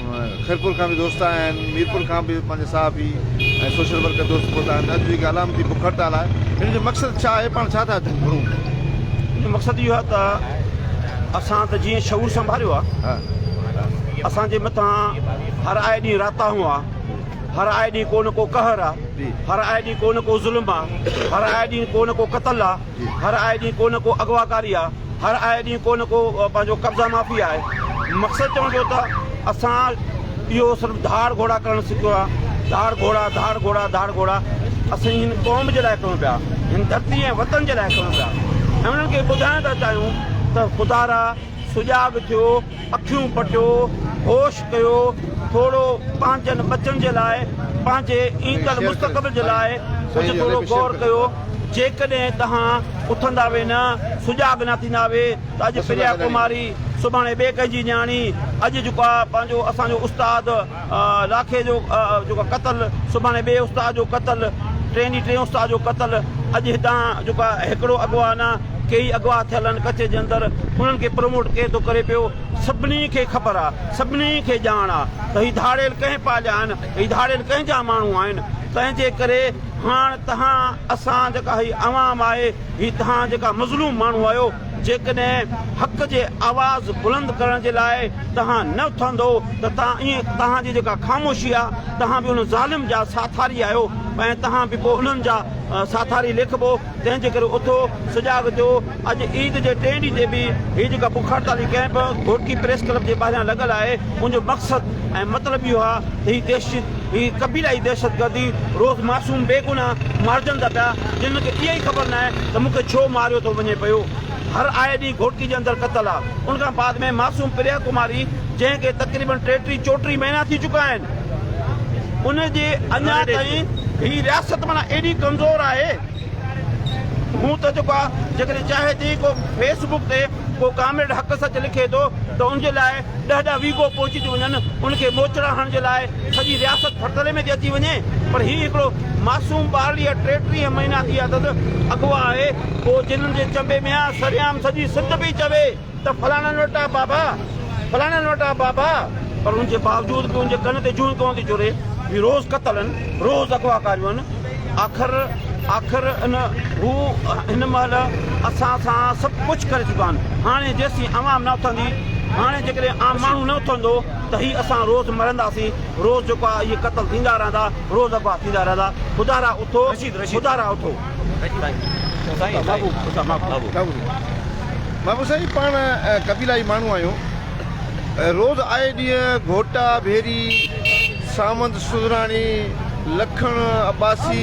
خيرپور کان به دوست آيا آهن، ميرپور کان به پنهنجا صحافي ۽ سوشل ورڪر دوست پهتا آهن، اڄ جيڪي علامتي بک هڙتال آهي، هن جو مقصد ڇا آهي، پاڻ ڇا ٿا گهرون؟ ان جو مقصد اهو آهي ته اسان ته جيئن شعور سنڀاليو آهي، اسان جي مٿان هر آئي ڏينهن راتاهون آ، هر آئي ڏينهن ڪو نه ڪو قهر آ، هر آئي ڏينهن ڪو نه ڪو ظلم آ، هر آئي ڏينهن ڪو نه ڪو قتل آ، هر آئي ڏينهن ڪو نه ڪو اغواڪاري آ هر آئي ڏينهن ڪو نه ڪو پنهنجو قبضا مافي آهي مقصد چوڻ جو ته اسان اهو صرف ڌاڙ گهوڙا ڪرڻ سکيو آ ڌاڙ گهوڙا ڌاڙ گهوڙا ڌاڙ گهوڙا اسين هن قوم جي لاء ڪيون پيا هن ڌرتي ۽ وطن جي لاء ڪيون پيا ۽ انهن کي ٻڌائڻ ٿا چاهيون ته خدارا سجاڳ ٿيو اکيون پٽيو، هوش ڪيو، ٿورو پنهنجن ٻچن جي لاء، پنهنجي ايندڙ مستقبل جي لاء ڪجهه ٿورو غور ڪيو. جيڪڏهن توهان اٿندا وي نه، سجاڳ نه ٿيندا وي ته اڄ پريا ڪماري، سڀاڻي ٻئي ڪنهن جي نياڻي، اڄ جيڪو آ پنهنجو اسان جو استاد، لاکي جو جيڪو قتل، سڀاڻي ٻئي استاد جو قتل، ٽئين ڏينهن ٽئين استاد جو قتل، اڄ هتان جيڪو هيڪڙو اغوا نه ڪيئي اغوا ٿيل آهن ڪچي جي اندر، انهن کي پروموٽ ڪير ٿو ڪري پيو، سڀني کي خبر آ، سڀني کي ڄاڻ آ ته هي ڌاڙيل ڪنهن پاليا آهن، هي ڌاڙيل ڪنهن جا ماڻهو آهن، تنهن جي ڪري هاڻ تهان اسان جيڪا هي عوام آهي، هي تهان جيڪا مظلوم ماڻهو آهيو، جيڪڏهن حق جي آواز بلند ڪرڻ جي لاء، توهان نه اٿندؤ ته توهان ائين توهان جي جيڪا خاموشي آ توهان به ان ظالم جا ساٿاري آهيو ۽ توهان به پوء انهن جا ساٿاري ليکبؤ تنهن جي ڪري اٿو سجاڳ ٿيو اڄ عيد جي ٽئين ڏينهن تي به هي جيڪا بک هڙتالي ڪئمپ گهوٽڪي پريس ڪلب جي ٻاهريان لڳل آهي ان جو مقصد ۽ مطلب اهو آ ته هي دهشت هي قبيلائي دهشتگردي روز معصوم بيگناهه مارجن ٿا پيا جنهن کي اها ئي خبر ناهي ته مون کي ڇو ماريو ٿو وڃي پيو. هر آئي ڏينهن گهوٽڪي جي اندر قتل آ ان کان بعد ۾ معصوم پريا ڪماري جنهن کي تقريبن ٽيٽيهه چوٽيهه مهينا ٿي چڪا آهن ان جي اڃا تائين هي رياست معنيٰ ايڏي ڪمزور آهي هون ته جيڪو آ جيڪڏهن چاهي ٿي ڪو فيس بڪ تي ڪو ڪامريڊ حق سچ لکي ٿو ته ان جي لاء ڏهه ڏهه ويگهو پهچي ٿيون وڃن ان کي موچڙا هڻڻ جي لاء سڄي رياست ڦرتلي ۾ ٿي اچي وڃي پر هي هڪڙو معصوم ٻارڙي ۽ ٽي ٽيهه مهينا ٿي اٿس اغوا آهي پوء جنن جي چنبي ۾ آ سرعام سڄي سنڌ پئي چوي ته فلاڻن وٽ آ بابا فلاڻن وٽ آ بابا پر ان جي باوجود به ان جي ڪن تي جون ڪونه ٿي چوري هي روز قتل ان روز اغوا ڪاريون ان آخر آخر ان هو هن مهل اسان سان سڀ ڪجهه ڪري چڪا آهن هاڻي جيسين عوام نه اٿندي هاڻي جيڪڏهن عام ماڻهو نه اٿندو ته هي اسان روز مرنداسين روز جيڪو آهي اهي قتل ٿيندا رهندا روز اغوا ٿيندا رهندا خدا را اٿو خدا را اٿو بابو سائين پاڻ قبيلائي ماڻهو آهيون روز آئي ڏينهن گهوٽا ڀيري ساوند سوزراڻي لکڻ عباسي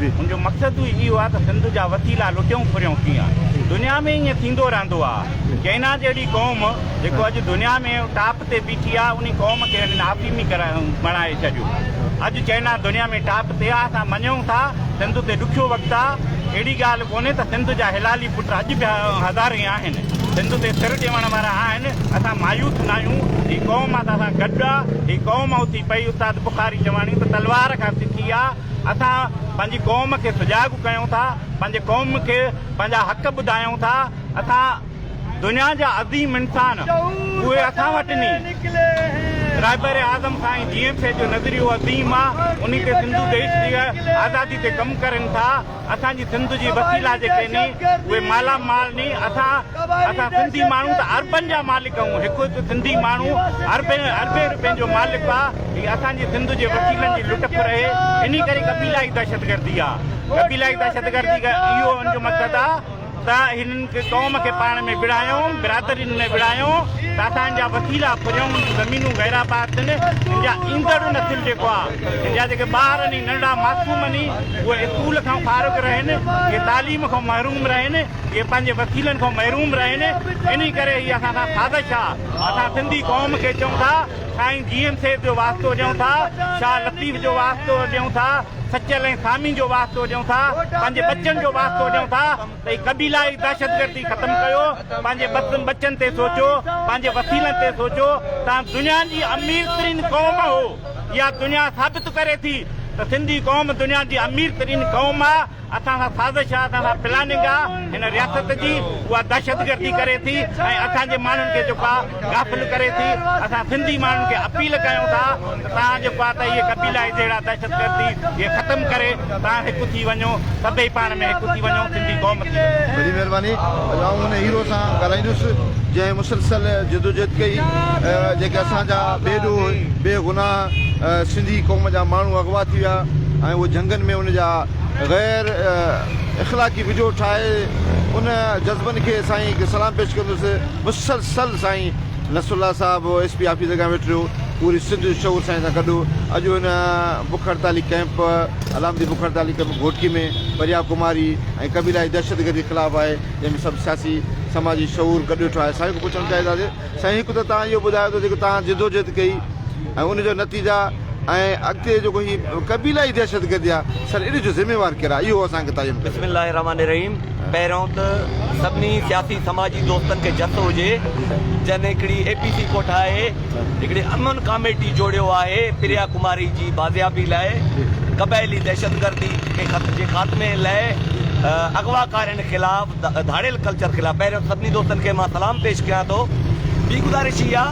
هن جو مقصد به اهو آهي ته سنڌ جا وسيلا لٽيون ڦريون ڪيئن؟ دنيا ۾ ائين ٿيندو رهندو آهي. چئنا جهڙي قوم جيڪو اڄ دنيا ۾ ٽاپ تي بيٺي آهي انهي قوم کي هنن آفيمي بڻائي ڇڏيو. اڄ چئنا دنيا ۾ ٽاپ تي آهي اسان مڃون ٿا سنڌ تي ڏکيو وقت آهي اهڙي ڳالهه ڪونهي ته سنڌ جا حلالي پٽ اڄ به هزارين آهن سنڌ تي سر ڏيوڻ وارا آهن اسان مايوس ناهيون هي قوم اسان سان گڏ آهي هي قوم اٿي پئي استاد بخاري چواڻي ته تلوار کان سکي آهي اسان پنهنجي قوم کي سجاڳ ڪيون ٿا، پنهنجي قوم کي پنهنجا حق ٻڌايون ٿا، اسان دنيا جا عظيم انسان اهي اسان وٽ ني رهبر اعظم سائين جي ايم سيد جو نظريو عظيم آ انهي تي زندو ديش جي آزادي تي ڪم ڪرين ٿا. اسان جي سنڌ جي وسيلا جيڪي ني اهي مالا مال ني اسان اسان سنڌي ماڻهو ته اربن جا مالڪ آهيون هڪ هڪ سنڌي ماڻهو اربين اربين روپين جو مالڪ آ هي اسان جي سنڌ جي وسيلن جي لٽ ڦر اهي انهي ڪري قبيلائي دهشتگردي آ قبيلائي دهشتگردي اهو ان جو مقصد آ ته هنن قوم کي پاڻ ۾ وڙهايون، برادرين ۾ وڙهايون ته اسان جا وسيلا پريون هن جون زمينون غير آباد ٿين، هن جا ايندڙ نسل جيڪو آ، هن جا جيڪي ٻار آهن، ننڍڙا معصوم آهن، اهي اسڪول کان فارغ رهن، اهي تعليم کان محروم رهن، اهي پنهنجي وسيلن کان محروم رهن، انهي ڪري هي اسان سان سازش آ، اسان سنڌي قوم کي چئون ٿا، سائين جي ايم سيد جو واسطو ڏيون ٿا، شاهه لطيف جو واسطو ڏيون ٿا. سچل ۽ سامي جو واسطو ڏيون ٿا پنهنجي ٻچن جو واسطو ڏيون ٿا ته هي قبيلائي دهشتگردي ختم ڪيو پنهنجي بسن ٻچن تي سوچو پنهنجي وسيلن تي سوچو تان دنيا جي امير ترين قوم هو يا دنيا ثابت ڪري ٿي ته سنڌي قوم دنيا جي امير ترين قوم آ اسان سان سازش آ، اسان سان پلاننگ آ، هن رياست جي، اها دهشتگردي ڪري ٿي ۽ اسان جي ماڻهن کي جيڪو آ غافل ڪري ٿي، اسان سنڌي ماڻهن کي اپيل ڪيون ٿا ته توهان جيڪو آ ته اهي قبيلائي جهيڙا دهشتگردي کي ختم ڪري توهان هڪ ٿي وڃو، سڀئي پاڻ ۾ هڪ ٿي وڃو، سنڌي قوم ٿي وڃو. وڏي مهرباني. اڄ آئون ان هيرو سان ڳالهائيندس جنهن مسلسل جدوجهد ڪئي ۽ جيڪي اسان جا بي ڏوهه، بي گناهه سنڌي قوم جا ماڻهو اغوا ٿي ويا ۽ اهو جهنگن ۾ ان جا غير اخلاقي وڊيو ٺاهي ان جذبن کي سائين کي سلام پيش ڪندس مسلسل سائين نصر الله صاحب ايس پي آفيس اڳيان ويٺي رهيو پوري سنڌ جو شعور سائين سان گڏ اڄ هن بک هڙتالي ڪيمپ علامتي بک هڙتالي ڪيمپ گهوٽڪي ۾ پريا ڪماري ۽ قبيلائي دهشتگردي خلاف آهي جنهن ۾ سڀ سياسي سماجي شعور گڏ ويٺو آهي سائين کي پڇڻ چاهينداسي سائين هڪ ته توهان اهو ٻڌايو ته جيڪو توهان جدوجهد ڪئي ۽ ان جو نتيجا ۽ اڳتي جيڪو هي قبيلائي دهشتگردي آ سر ان جو ذميوار ڪير آ اهو اسان کي تعين ڪريو. بسم الله الرحمٰن الرحيم پهريون ته سڀني سياسي سماجي دوستن کي جس هجي جن هڪڙي اي پي سي ڪو ٺاهي هڪڙي امن ڪاميٽي جوڙيو آهي پريا ڪماري جي بازيابي لاء قبائلي دهشتگردي جي خاتمي لاء اغواڪارين خلاف ڌاڙيل ڪلچر خلاف پهريون سڀني دوستن کي مان سلام پيش ڪيان ٿو ٻي گذارش هي آ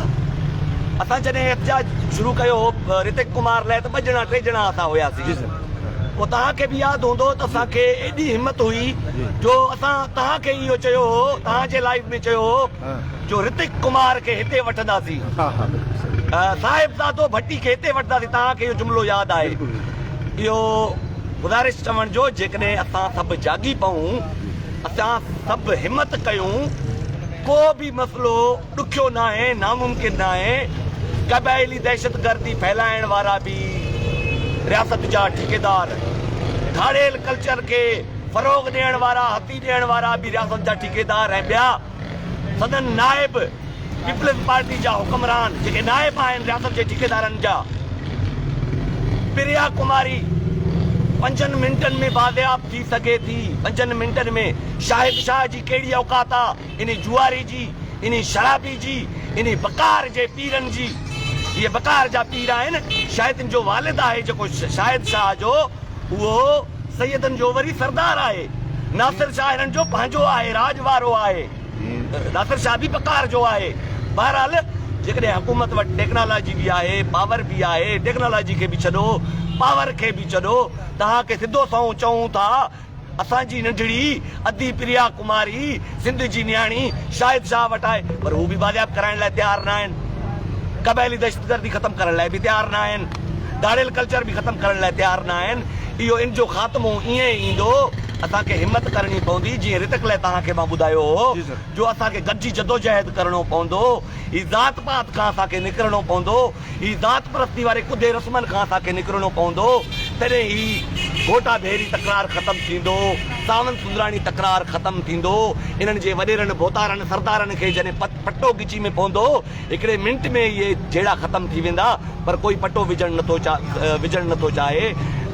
اسان جڏهن احتجاج شروع ڪيو هو رتيڪ ڪمار لاء ته ٻه ڄڻا ٽي ڄڻا اسان هياسين پوء توهان کي به ياد هوندو ته اسان کي ايڏي همت هئي جو اسان توهان کي اهو چيو هو توهان جي لائيو ۾ چيو هو جو رتيڪ ڪمار کي هتي وٺنداسين صاحبزادو ڀٽي کي هتي وٺنداسين توهان کي اهو جملو ياد آهي اهو گذارش چوڻ جو جيڪڏهن اسان سڀ جاڳي پئون اسان سڀ همت ڪيون ڪو به مسئلو ڏکيو ناهي ناممڪن ناهي قبائلي دهشت گردي ڦهلائڻ وارا به رياست جا ٺيڪيدار ڌاڙيل ڪلچر کي فروغ ڏيڻ وارا هٿي ڏيڻ وارا به رياست جا ٺيڪيدار ۽ ٻيا سندن نائب پيپلز پارٽي جا حڪمران جيڪي نائب آهن رياست جي ٺيڪيدارن جا پريا ڪماري پنجن منٽن ۾ بازياب ٿي سگهي ٿي پنجن منٽن ۾ شاهد شاهه جي ڪهڙي اوقات آ انهي جوئاري جي انهي شرابي جي انهي بڪار جي پيرن جي اهي بڪار جا پير آهن شاهدن جو والد آهي جيڪو شاهد شاهه جو اهو سيدن جو وري سردار آهي. ناصر شاهه هنن جو پنهنجو آهي، راڄ وارو آهي. ناصر شاهه به پڪار جو آهي. بهرحال جيڪڏهن حڪومت وٽ ٽيڪنالاجي به آهي، پاور به آهي، ٽيڪنالاجي کي به ڇڏو، پاور کي به ڇڏو، توهان کي سڌو سنئون چئون ٿا، اسان جي ننڍڙي ادي پريا ڪماري سنڌ جي نياڻي شاهد شاهه وٽ آهي پر هو به بازياب ڪرائڻ لاء تيار ناهن. قبائلي دهشتگردي ختم ڪرڻ لاء به تيار ناهن. ڌاڙيل ڪلچر به ختم ڪرڻ لاء تيار ناهن. اهو ان جو خاتمو ائين ئي ايندو. اسان کي همت ڪرڻي پوندي جيئن رتڪ لئه توهان کي مان ٻڌايو هو جو اسان کي گڏجي جدوجهد ڪرڻو پوندو. هي ذات پات کان اسان کي نڪرڻو پوندو. هي ذات پرستي واري ڪڌي رسمن کان اسان کي نڪرڻو پوندو، تڏهن هي گهوٽا ڀيري تڪرار ختم ٿيندو، ساوند سوندراڻي تڪرار ختم ٿيندو، انهن جي وڏيرن، ڀوتارن، سردارن کي جڏهن پٽو ڳچي ۾ پوندو، هڪڙي منٽ ۾ اهي جهيڙا ختم ٿي ويندا، پر ڪوئي پٽو وجهڻ نٿو وجهڻ نٿو چاهي،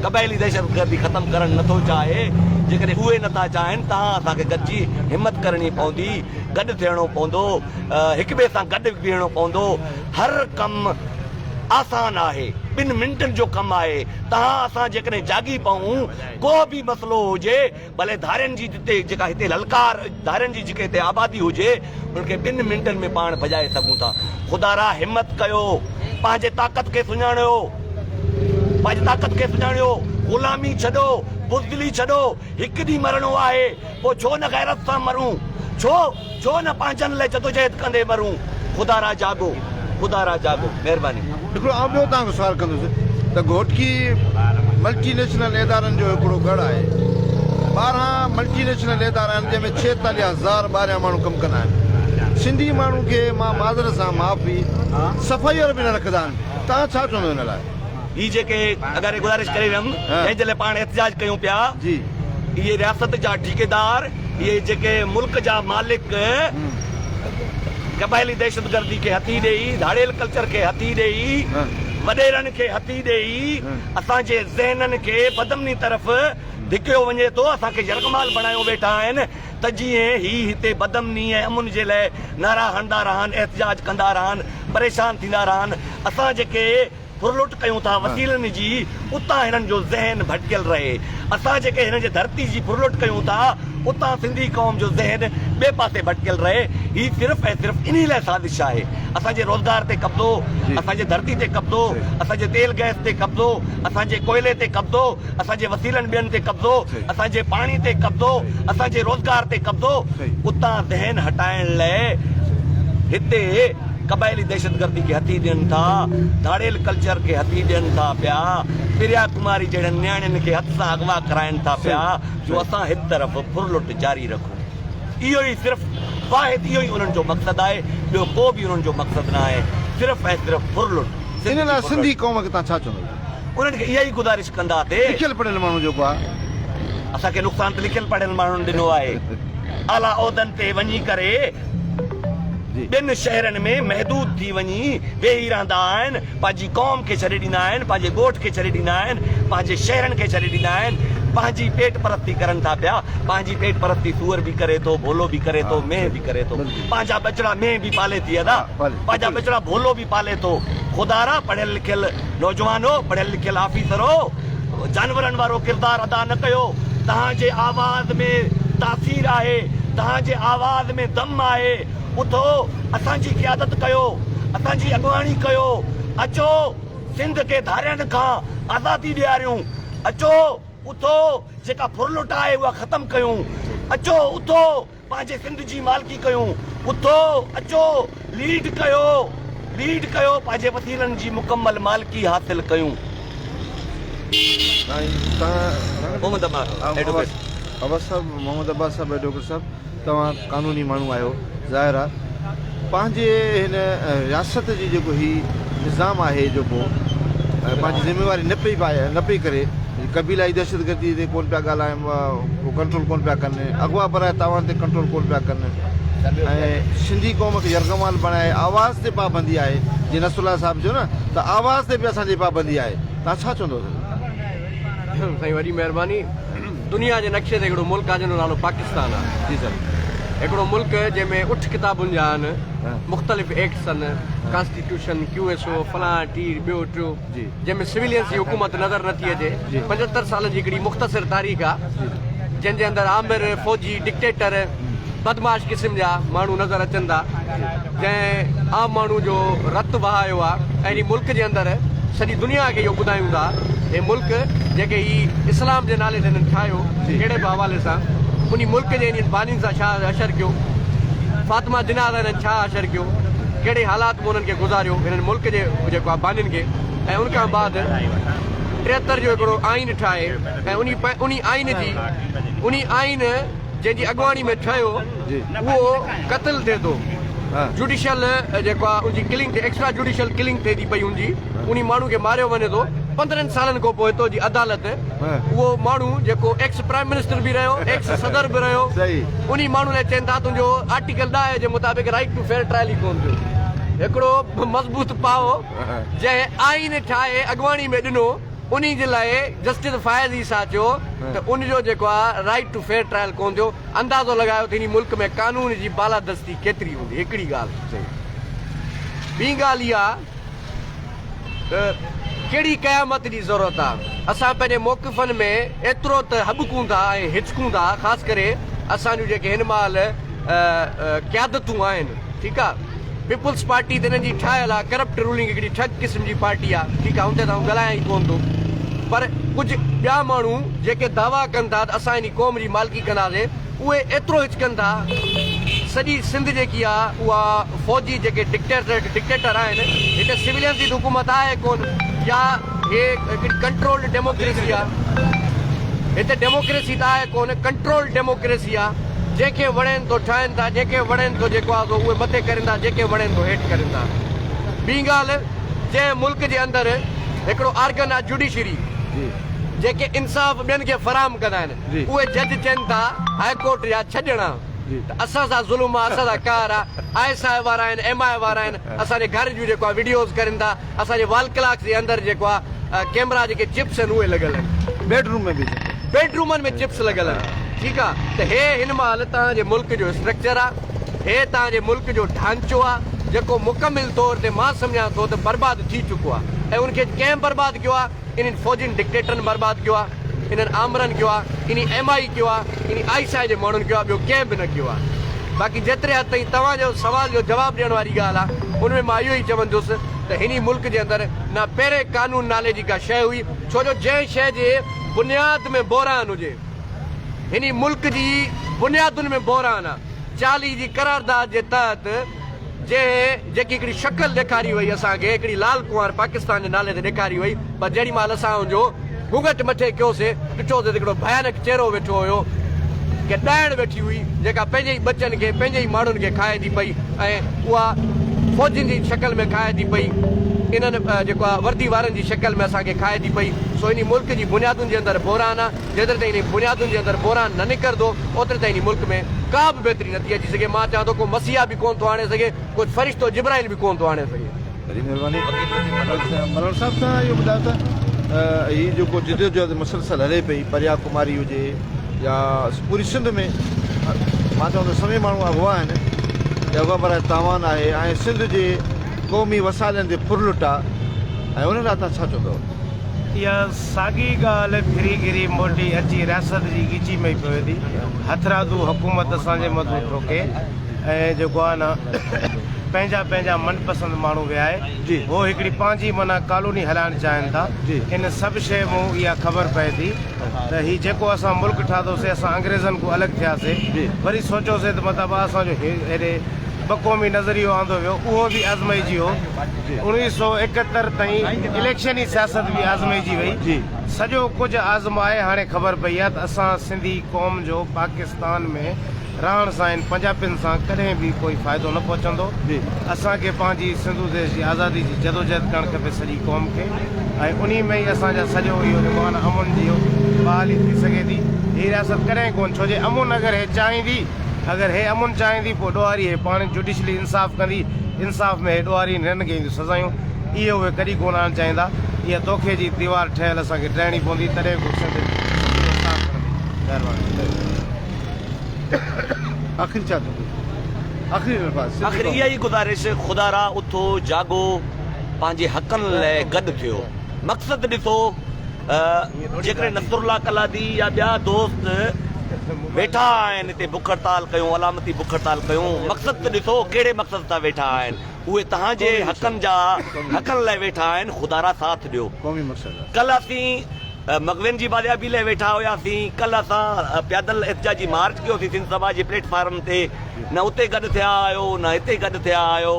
قبائلي دهشتگردي ختم ڪرڻ نٿو چاهي، جيڪڏهن اهي نٿا چاهن تهان اسان کي گڏجي همت ڪرڻي پوندي، گڏ ٿيڻو پوندو، هڪٻئي سان گڏ بيهڻو پوندو، هر ڪم آسان آهي. ٻن منٽن جو ڪم آهي. تهان اسان جيڪڏهن جاڳي پئون، ڪو به مسئلو هجي، ڀلي ڌارين جي جتي جيڪا هتي للڪار ڌارين جي جيڪي هتي آبادي هجي، ان کي ٻن منٽن ۾ پاڻ ڀڄائي سگهون ٿا. خدا را همت ڪيو. پنهنجي طاقت کي سڃاڻيو. پنهنجي طاقت کي سڃاڻيو. غلامي ڇڏو. بزدلي ڇڏو. هڪ ڏينهن مرڻو آهي. پوء ڇو نه غيرت سان مرون. ڇو؟ ڇو نه پنهنجن لاء جدوجهد ڪندي مرون. خدا را جاڳو خدا را جاڳو. مهرباني. هڪڙو آئون ٻيو توهان کان سوال ڪندس ته گهوٽڪي ملٽي نيشنل ادارن جو هڪڙو ڳڙهه آهي. ٻارهن ملٽي نيشنل ادارا آهن جنهن ۾ ڇيتاليهه هزار ٻاهريان ماڻهو ڪم ڪندا آهن. سنڌي ماڻهو کي مان معذرت سان معافي صفائي وارا به نه رکندا آهن. توهان ڇا چوندو ان لاء؟ هي جيڪي اگر گذارش ڪري ويم جنهن جي لاء پاڻ احتجاج ڪيون پيا اهي رياست جا ٺيڪيدار. اهي جيڪي ملڪ جا مالڪ قبائلي دهشتگردي کي هٿي ڏئي، ڌاڙيل ڪلچر کي هٿي ڏئي، وڏيرن کي هٿي ڏئي اسان جي ذهنن کي بدامني طرف ڌڪيو وڃي ٿو، اسان کي يرغمال بڻايو ويٺا آهن ته جيئن هي هتي بدامني ۽ امن جي لاء نعرا هڻندا رهن، احتجاج ڪندا رهن، پريشان ٿيندا رهن، اسان جيڪي. ڦرلٽ ڪيون ٿا وسيلن جي اتان هنن جو ذهن ڀٽڪيل رهي اسان جيڪي هنن جي ڌرتي جي ڦرلٽ ڪيون ٿا اتان سنڌي قوم جو ذهن ٻئي پاسي ڀٽڪيل رهي هي صرف ۽ صرف انهي لاء سازش آهي اسان جي روزگار تي قبضو اسان جي ڌرتي تي قبضو اسان جي تيل گئس تي قبضو اسان جي ڪوئلي تي قبضو اسان جي وسيلن ٻين تي قبضو اسان جي پاڻي تي قبضو اسان جي روزگار تي قبضو اتان ذهن هٽائڻ لاء هتي قبائلي دهشتگردي کي هٿي ڏين ٿا، ڌاڙيل ڪلچر کي هٿي ڏين ٿا پيا، پريا ڪماري جهڙين نياڻين کي هٿ سان اغوا ڪرائين ٿا پيا جو اسان هڪ طرف ڦرلٽ جاري رکون. اهو ئي صرف واحد اهو ئي انهن جو مقصد آهي، ٻيو ڪو به انهن جو مقصد نه آهي، صرف ۽ صرف ڦرلٽ، ان سنڌ لاء جي ڦرلٽ. سنڌي قوم کي توهان ڇا چوندو؟ انهن کي اها ئي گذارش ڪندا تي. لکيل پڙهيل ماڻهو جيڪو آهي. اسان کي نقصان ته لکيل پڙهيل ماڻهن ڏنو آهي. اعليٰ عهدن تي وڃي ڪري ٻين شهرن ۾ محدود ٿي وڃي ويهي رهندا آهن. پنهنجي قوم کي ڇڏي ڏيندا آهن، پنهنجي ڳوٺ کي ڇڏي ڏيندا آهن، پنهنجي شهرن کي ڇڏي ڏيندا آهن. پنهنجي پيٽ پرستي ڪرن ٿا پيا. پنهنجي پيٽ پرستي سوئر به ڪري ٿو، ڀولو به ڪري ٿو، مينهن به ڪري ٿو. پنهنجا ٻچڙا مينهن به پالي ٿي ادا. پنهنجا ٻچڙا ڀولو به پالي ٿو. خدارا پڙهيل لکيل. نوجوانو، پڙهيل لکيل آفيسرو، جانورن وارو ڪردار ادا نه ڪيو، توهان جي آواز ۾ تاثير آهي، توهان جي آواز ۾ دم آهي، اٿو اسان جي قيادت ڪيو، اسان جي اڳواڻي ڪيو، اچو سنڌ کي ڌارين کان آزادي ڏياريون، اچو اٿو جيڪا ڦرلٽ آهي اها ختم ڪيون، اچو اٿو پنهنجي سنڌ جي مالڪي ڪيون اٿو اچو ليڊ ڪيو ليڊ ڪيو پنهنجي وسيلن جي مڪمل مالڪي حاصل ڪيون. سائين توهان محمد عباس ايڊوڪيٽ صاحب محمد عباس صاحب ايڊوڪيٽ صاحب توهان قانوني ماڻهو آهيو ظاهر آ. پنهنجي هن رياست جي جيڪو هي نظام آهي جو ڪو پنهنجي ذميواري نه پئي نه پئي ڪري قبيلائي دهشتگردي تي ڪونه پيا ڳالهائن ڪنٽرول ڪونه پيا ڪن اغوا برائي تاوان تي ڪنٽرول ڪونه پيا ڪن ۽ سنڌي قوم کي يرغمال بڻائي آواز تي پابندي آهي جي نصر الله صاحب چيو نه ته آواز تي به اسان جي پابندي آهي تان ڇا چوندو سائين وڏي مهرباني. دنيا جي نقشي تي هڪڙو ملڪ آهي جنهن جو نالو پاڪستان آهي. هڪڙو ملڪ جنهن ۾ اٺ ڪتابن جا آهن، مختلف ايڪٽس آهن، ڪانسٽيٽيوشن، ڪيو ايس او، فلان ٽير، ٻيو ٽيو، جنهن ۾ سويلينس جي حڪومت نظر نه ٿي اچي. پنجهتر سالن جي هڪڙي مختصر تاريخ آهي جنهن جي اندر آمر فوجي ڊڪٽيٽر، بدمعاش قسم جا ماڻهو نظر اچن ٿا جنهن عام ماڻهو جو رت وهايو آهي ۽ هي ملڪ جي اندر سڄي دنيا کي اهو ٻڌايون ٿا هي ملڪ جيڪي هي اسلام جي نالي تي هنن ٺاهيو ڪهڙي به حوالي سان انهي ملڪ جي انهن بانين سان ڇا حشر ڪيو فاطمه جناح سان هنن ڇا حشر ڪيو ڪهڙي حالات ۾ انهن کي گذاريو هنن ملڪ جي جيڪو آهي بانين کي ۽ ان کان بعد ٽيهتر جو هڪڙو آئين ٺاهي ۽ انهي انهي آئين جي انهي آئين جنهن جي اڳواڻي ۾ ٺهيو اهو قتل ٿئي ٿو جوڊيشل جيڪو آهي ان جي ڪلنگ ٿئي ايڪسٽرا جوڊيشل ڪلنگ ٿئي ٿي پئي ان جي انهي ماڻهو کي ماريو وڃي ٿو پندرهن سالن کان پوء هتو جي عدالت اهو ماڻهو جيڪو ايڪس پرائم منسٽر به رهيو ايڪس صدر به رهيو انهي ماڻهو لاء چين ٿا تنهنجو آرٽيڪل ڏاهه جي مطابق رائيٽ ٽو فيئر ٽرائل ئي ڪون ٿيو هڪڙو مضبوط پاهو جنهن آئين ٺاهي اڳواڻي ۾ ڏنو انهي جي لاء جسٽس فائز عيسيٰ چيو ته ان جو جيڪو آهي رائيٽ ٽو فيئر ٽرائل ڪونه ٿيو، اندازو لڳايو ته هن ملڪ ۾ قانون جي بالادستي ڪيتري هوندي، هڪڙي ڳالهه چئي. ٻي ڳالهه اها ته ڪهڙي قيامت جي ضرورت آهي، اسان پنهنجي موقفن ۾ ايترو ته هٻڪون ٿا ۽ هچڪون ٿا، خاص ڪري اسان جون جيڪي هن مهل قيادتون آهن، ٺيڪ آ پيپلز پارٽي ته انهن جي ٺاهيل آ ڪرپٽ رولنگ هڪڙي ٺڳ قسم جي پارٽي آ ٺيڪ آ ان تي ته آئون ڳالهايان ئي ڪونه ٿو پر ڪجهه ٻيا ماڻهو جيڪي دعويٰ ڪن ٿا ته اسان هن قوم جي مالڪي ڪنداسي اهي ايترو هچڪن ٿا سڄي سنڌ جيڪي آ اها فوجي جيڪي ڊڪٽيٽر آهن هتي سولين جي ته حڪومت آهي ڪونه يا هي هڪڙي ڪنٽرولڊ ڊيموڪريسي آ هتي ڊيموڪريسي ته آهي ڪونه ڪنٽرولڊ ڊيموڪريسي آ جنهن کي وڻين ٿو ٺاهين ٿا، جنهن کي وڻين ٿو جيڪو آهي سو اهي مٿي ڪرين ٿا، جنهن کي وڻين ٿو هيٺ ڪرين ٿا. ٻي ڳالهه جنهن ملڪ جي اندر هڪڙو آرگن آهي جوڊيشري جيڪي انصاف ٻين کي فراهم ڪندا آهن اهي جج چين ٿا هاء ڪورٽ جا ڇهه ڄڻا ته اسان سان ظلم آهي اسان سان قهر آهي آء ايس آء وارا آهن ايم آء وارا آهن اسان جي گهر جون جيڪو آهي وڊيوز ڪرين ٿا اسان جي وال ڪلاڪس جي اندر جيڪو آ ڪيمرا جيڪي چپس آهن اهي لڳل آهن. بيڊ روم ۾ به جيڪي. بيڊ رومن ۾ چپس لڳل آهن ٺيڪ آ ته هي هن مهل توهان جي ملڪ جو اسٽرڪچر آ هي توهان جي ملڪ جو ڍانچو آ جيڪو مڪمل طور تي مان سمجهان ٿو ته برباد ٿي چڪو آ ۽ ان کي ڪنهن برباد ڪيو آ انهن فوجين ڊڪٽيٽرن برباد ڪيو آهي انهن آمرن ڪيو آهي انهي ايم آئي ڪيو آهي انهي آئي سائي جي ماڻهن ڪيو آهي ٻيو ڪنهن به نه ڪيو آهي باقي جيتري حد تائين توهان جو سوال جو جواب ڏيڻ واري ڳالهه آهي ان ۾ مان اهو ئي چوندس ته هني ملڪ جي اندر نه پهرين قانون نالي جي ڪا شيء هئي ڇو جو جنهن شيء جي بنياد ۾ بحران هجي هني ملڪ جي بنيادن ۾ بحران آهي چاليهه جي قرارداد جي تحت جنهن جيڪي هڪڙي شڪل ڏيکاري هئي اسان کي هڪڙي لال ڪنوار پاڪستان جي نالي تي ڏيکاري هئي پر جهڙي مهل اسان ان جو گهونگهٽ مٿي ڪيو سي ڏٺو سي ته هڪڙو ڀيانڪ چهرو ويٺو هيو هڪ ڏائڻ ويٺي هئي جيڪا پنهنجي ئي ٻچن کي پنهنجي ئي ماڻهن کي کائي ٿي پئي ۽ اها فوجين جي شڪل ۾ کائي ٿي پئي انهن جيڪو آهي وردي وارن جي شڪل ۾ اسان کي کائي ٿي پئي سو انهي ملڪ جي بنيادن جي اندر بحران آهي. جيتري تائين انهي بنيادن جي اندر بحران نه نڪرندو اوتري تائين انهي ملڪ ۾ ڪا به بهتري نٿي اچي سگهي، مان چوان ٿو ڪو مسيحا به ڪونه ٿو آڻي سگهي، ڪو فرشتو جبرائيل به ڪونه ٿو آڻي سگهي. وڏي مھرباني ملوڻ صاحب سان اھو ٻڌايو ته ھي جيڪو جدوجھد مسلسل ھلي پئي پريا ڪماري ھجي يا پوري سنڌ ۾ مان چوان ٿو سوين ماڻھو اغوا آھن يا اغوا براء تاوان آھي ۽ سنڌ جي قومي وسائلن تي ڦرلٽ آ ۽ انھن لاء تھان ڇا چوندؤ؟ اها ساڳي ڳالهه ڦري گهري موٽي اچي رياست جي ڳچي ۾ ئي پوي ٿي. هٿرادو حڪومت اسان جي مٿو ٺوڪي ۽ جيڪو آهي نه پنهنجا پنهنجا من پسند ماڻهو ويهائي هو هڪڙي پنهنجي معنيٰ ڪالوني هلائڻ چاهين ٿا. ان سڀ شيء مون اها خبر پئي ٿي ته هي جيڪو اسان ملڪ ٺاهيوسي اسان انگريزن کان الڳ ٿياسي وري سوچيوسي ته مطلب اسان جو هيڏي ٻه قومي نظريو آندو ويو اهو به آزمائجي هو. اڻويهه سؤ ايڪهتر تائين اليڪشني سياست به آزمائجي وئي. سڄو ڪجهه آزمائي هاڻي خبر پئي آهي ته اسان سنڌي قوم جو پاڪستان ۾ رهڻ سان هن پنجاپين سان ڪڏهن به ڪوئي فائدو نه پهچندو. اسان کي پنهنجي سنڌو ديس جي آزادي جي جدوجهد ڪرڻ کپي سڄي قوم کي ۽ انهي ۾ ئي اسان جا سڄو اهو ايمان امن جي بحالي ٿي سگهي ٿي. هي رياست ڪڏهن ڪونه ڇو جي امن اگر هي چاهيندي اگر هي امن چاهيندي پوء ڏوهاري هي پاڻ جوڊيشلي انصاف ڪندي. انصاف ۾ هيڏو واري نرن کي اينديون سزايون اهي اهي ڪڏهن ڪونه آڻڻ چاهيندا اها توکي جي ديوار ٺهيل اسان کي ٽهڻي پوندي تڏهن ڪو سنڌ جو سينو صاف ڪندي مهرباني آخري چا ٿو آخري الفاظ آخر اها ئي گذارش خدا را اٿو جاڳو پنهنجي حقن لئه گڏ ٿيو مقصد ڏسو جيڪڏهن نصرالله ڪلادي يا ٻيا دوست ويٺا آهن تي بک هڙتال ڪيون، علامتي بک هڙتال ڪيون، مقصد ته ڏسو ڪهڙي مقصد سان ويٺا آهن، اهي توهان جي حقن جا حقن لاء ويٺا آهن، خدا را ساٿ ڏيو، ڪلهه اسين مغوين جي بازيابي لاء ويٺا هياسين، ڪلهه اسان پيادل احتجاجي مارچ ڪيوسين سنڌ سڀا جي پليٽ فارم تي، نه اتي گڏ ٿيا آهيو نه هتي گڏ ٿيا آهيو،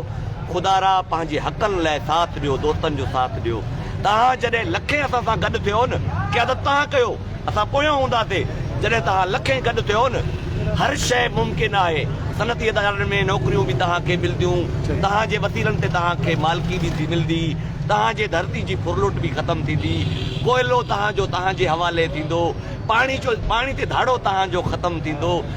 خدا را پنهنجي حقن لاء ساٿ ڏيو، دوستن جو ساٿ ڏيو، توهان جڏهن لکين اسان سان گڏ ٿيون قيادت توهان ڪيو. اسان پويان هونداسين جڏهن توهان لکين گڏ ٿيو نه هر شيء ممڪن آهي صنعتي ادارن ۾ نوڪريون به توهان کي ملديون توهان جي وسيلن تي توهان کي مالڪي به ٿي ملدي توهان جي ڌرتي جي ڦرلٽ به ختم ٿيندي ڪوئلو توهان جو توهان جي حوالي ٿيندو پاڻي جو پاڻي تي ڌاڙو توهان جو ختم ٿيندو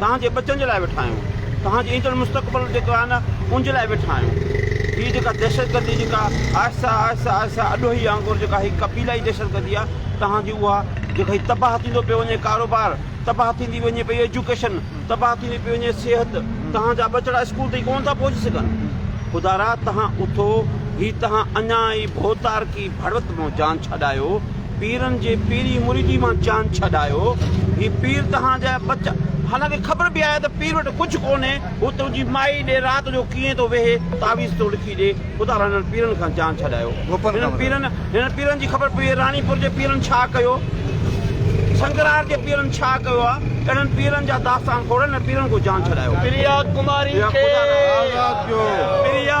توهان جي ٻچن جي لاء ويٺا آهيون، توهان جي ايندڙ مستقبل جيڪو آهي نه ان جي لاء ويٺا آهيون، هي جيڪا دهشتگردي جيڪا آهستي آهستي آهستي اڏوهي وانگر جيڪا هي قبيلائي دهشتگردي آهي توهان جي اها جيڪا هي تباهه ٿيندو پيو وڃي ڪاروبار تباهه ٿيندي وڃي پئي ايجوڪيشن تباهه ٿيندي پئي وڃي صحت توهان جا ٻچڙا اسڪول تائين ڪونه ٿا پهچي سگهن خدارا توهان اٿو هي توهان اڃا ئي ڀوتارڪي ڀڙوت مون جان ڇڏايو پيرن جي پيري مريدي مان جان ڇڏايو هي پير تهان جا بچا حالانڪه خبر به آهي ته پير وٽ ڪجهه ڪونهي هو تنهنجي مائي ڏي رات جو ڪيئن ٿو ويهي تعويذ ٿو لکي ڏي خدا رحم هنن پيرن کان جان ڇڏايو هنن پيرن هنن پيرن جي خبر پئي راڻي پور جي پيرن ڇا ڪيو سنگرار جي پيرن ڇا ڪيو آ اهڙن پيرن جا داستان کوڙن هن پيرن کان جان ڇڏايو پريا ڪماري کي آزاد ڪيو پريا